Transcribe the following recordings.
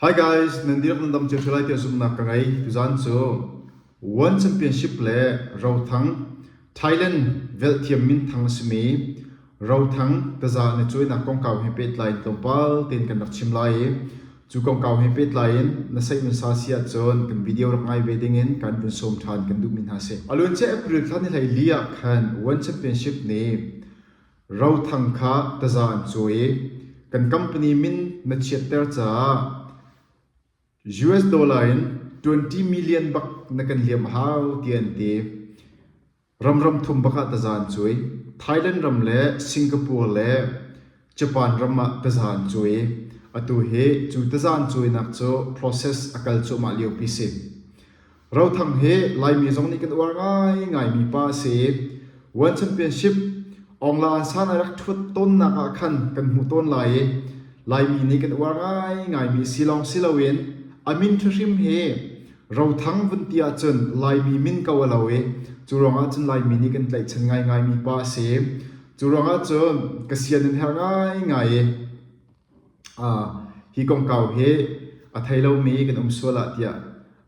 Hi guys, nan dihlak nan dam cio lai tiah zumhnak ka ngei. Tuzan cu World Championship le rothang Thailand velhthiam minthang a simi rothang taza na cuainak kongkau he pehtlai in tlawmpal tein kan rak chim lai i cu kongkau he pehtlai in na saihman sa si ahcun kan video rak ngai ve dingin kan vun sawm ṭhan kan duhmi hna a si. A luancia April thla ni hlei li ah khan World Championship nih Rothang kha taza an cawi i kan company min na chiatter caah US dollar in twenty million bak na kan liam a hau tiah an ti. Ram ram thum bak ah taza an cawi. Thailand ram le Singapore le Japan ram ah taza an cawi i atu hi cu taza an cawinak cu process a kal cuahmah liopi si. Rothang hi Laimi zong nih kan uar ngaingaimi pa a si i World Championship Ongla San a rak ṭhuat tawnnak ah khan kan hmuh tawn lai i Laimi nih kan uar ngaingaimi a si lawng si loin a min ṭhahrim hi Rothang vun ti ahcun Laimi min ko a lo i cu ruangah cun Laimi nih kan tlaihchan ngaingaimi pa a si i cu ruangah cun ka sian an herh ngaingai i Hi kongkau hi a thei lomi kan um sual ah tiah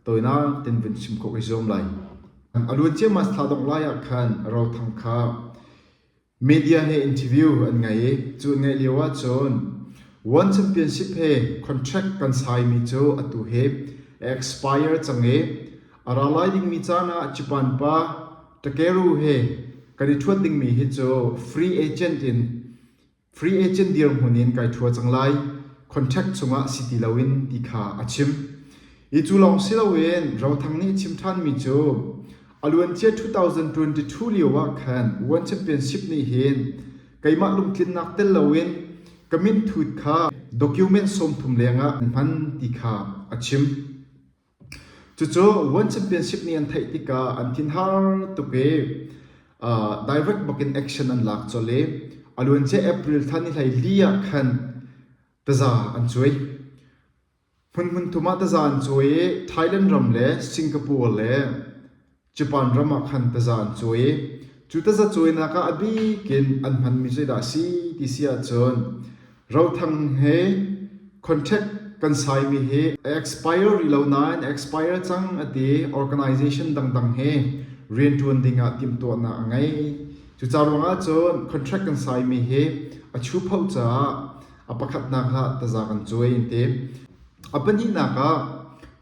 tawinak tein vun chim khawh ka zuam lai. A luat ciammam a si thla dongh lai ah khan Rothang kha media he interview an ngei i cu an ngaih lio ahcun World Championship he contract kan saimi cu atu hi a expire cang i a ra lai dingmi caan ah Japan pa Takeru he kan i ṭhuat dingmi hi cu free agent in free agent dirhmun in kai ṭhua cang lai, contract chungah si ti loin ti kha a chim. Hi cu lawng si loin Rothang nih chim ṭhanmi cu a luancia 2022 lio ah khan UN Championship nih hin keimah lungtlinnak tel loin ka minthut kha document sawmthum lengah an hman ti kha a chim. Cucu World Championship nih an theih tikah an thinhar tuk i direct bakin action an lak colh i a luancia April thla nihleili ah khan taza an cuai. Hmunhmun thum ah taza an cuai i Thailand ram le Singapore le Japan ram ah khan taza an cuai i cu taza cuainak ah a bik in an hmanmi zeidah a si ti si ahcun rothang he contract kan saimi hi a expire rih lo nain a expire cang a ti organization dangdang he rianṭuan ding ah timhtuahnak a ngei cucaah ruangah cun contract kan saimi hi a chupo caah a pakhatnak ah taza kan cuai an ti A pahnihnak ah,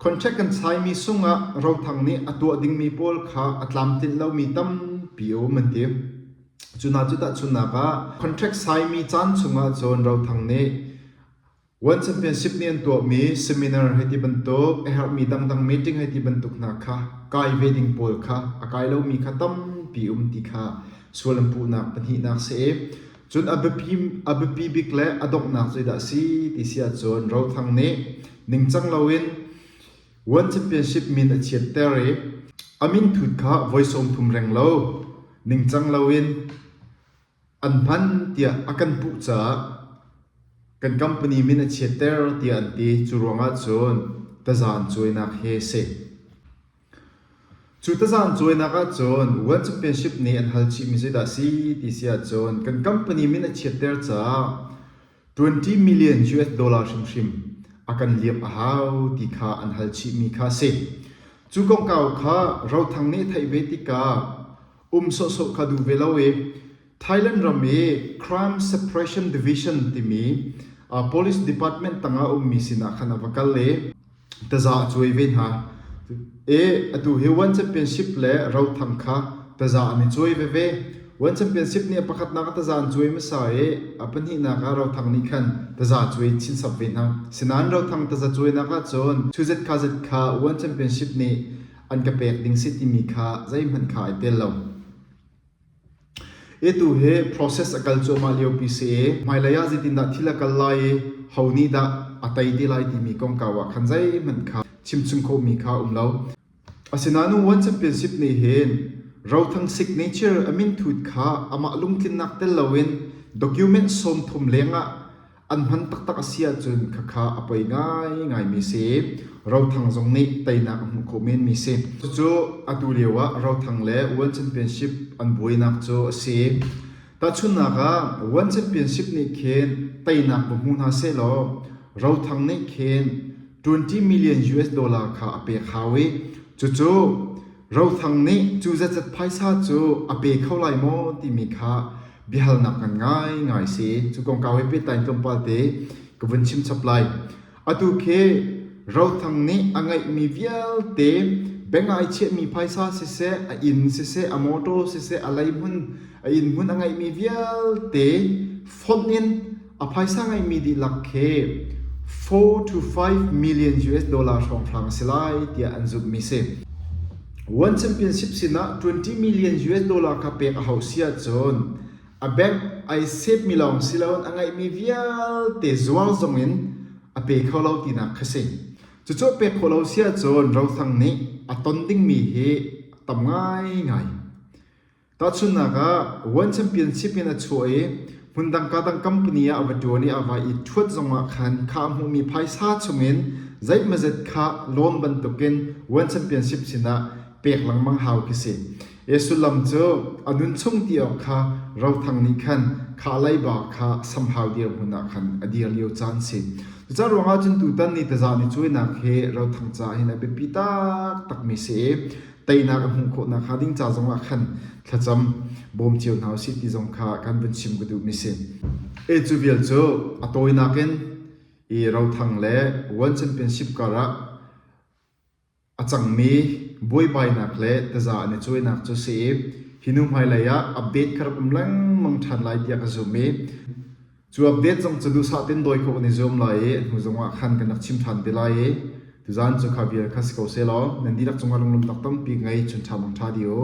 contract kan saimi sungah rothang nih a tuah dingmi pawl kha a tlamtlinh lomi tampi a um an ti. Cu hna cu tahchunhnak ah, contract saimi caan chungah cun rothang nih World Championship nih an tuahmi seminar hei ti bantuk, a herhmi dangdang meeting hei ti bantuk hna kha kai ve ding pawl kha a kai lomi kha tampi um ti kha sual an puhnak pahnihnak a si i Cun a biapi, a biapi bik le a donghnak zeidah a si ti si ahcun Rothang nih ningcang loin World Championship min a chiatter i a min thut kha voi sawm thum reng lo ningcang loin an hman tiah a kan puh caah kan company min a chiatter tiah an ti. Cu ruangah cun taza an cuainak hi a si. Cu tazam cawinak ahcun World Championship nih an hal chihmi zeidah a si ti si ahcun kan company min a chiatter caah twenty million US dollar hrimhrim a kan liam a hau ti kha an hal chihmi kha a si. Cu kongkau kha Rothang nih a theih ve tikah um sawhsawh kha duh ve lo i Thailand ram i Crime Suppression Division timi police department tangah ummi sinah khan a va kal i taza a cuai ve hna. I atu hi World Championship le rotham kha taza an i cuai veve. World Championship nih pakhatnak ah taza an cuai hmasa i a pahnihnak ah rothang nih khan taza cuai chin chap ve hna. Sinain rothang taza cuainak ahcun thu zet kha zet kha World Championship nih an ka pek ding si timi kha zeihmanh kha ai tel lo. E tu hi process a kal cuahmah liopi si i hmailei ah zeitindah thil a kal lai i ho nih dah a tei te lai timi kongkau ah khan zeihmanh kha chimchung khawhmi kha a um lo. Asinain One Championship nih hin Rothang signature a minthut kha amah lungtlinnak tel loin document sawm thum lengah An hman taktak a si ahcun khakha a poi ngaingaimi si. Rothang zong nih teinak a hmuh khawh menmi si. Cucu atu lio ah Rothang le World Championship an buainak cu a si. Tahchunhnak ah, World Championship nih khin teinak va hmu hna sehlaw, Rothang nih khin 20 million US dollar kha a pek hau i, cucu Rothang nih cu zetzat phaisa cu a pe kho lai maw timi kha biahalnak kan ngaingai si. Cu kongkau he pehtlai in tlawmpal te ka vun chim chap lai. Atu khi Rothang nih a ngeihmi vialte beng'ai chiahmi phaisa siseh, a inn siseh, a motor siseh, a leihmun, a inn hmun a ngeihmi vialte fonh in A phaisa ngeimi dihlak khi four to five million US dollar hrawnghrang a si lai tiah an zumhmi a si. World Championship sinah 20 million US dollar kha pek a hauh si ahcun a bank ai save-mi lawng si loin a ngeihmi vialte zuar zong in a pe kho lo tinak kha si. Cucu a pek khawh lo si ahcun rothang nih a ton dingmi hi a tam ngaingai. Tahchunhnak ah, World Championship in a chuah i hmundangka dang company ah a va ṭuan i a vai i ṭhuat zongah khan kha a hmuhmi phaisa chungin zeihmazet kha loan bantukin World Championship sinah pek lengmang hau khi si. Ie sullam cu a nunchung ti awk kha rothang nih khan kha leiba kha samhau dirhmun ah khan a dir lio caan a si. Cucaah ruangah cun tutan ni taza ni cuainak hi rothang caah hin a biapi taktakmi a si i teinak a hmuh khawh nakhnga ding ca zongah khan thlacam bawm cio hna u sih ti zong kha kan vun chim ka duh mi si. E cu vial cu a tawinak in i rothang le World Championship kar ah a cangmi buaibainak le taza an i cuainak cu si i hi nu hmailei ah update ka rak um lengmang ṭhan lai tiah ka zum i Cu update zong cu duhsah tein dawi khawh kan i zuam lai i hnu zongah khan kan rak chim ṭhan te lai i tuzan cu kha vial kha si ko sehlaw nan dihlak cungah lunglawmh tak tampi ka ngei chun ṭha mang ṭha dih u.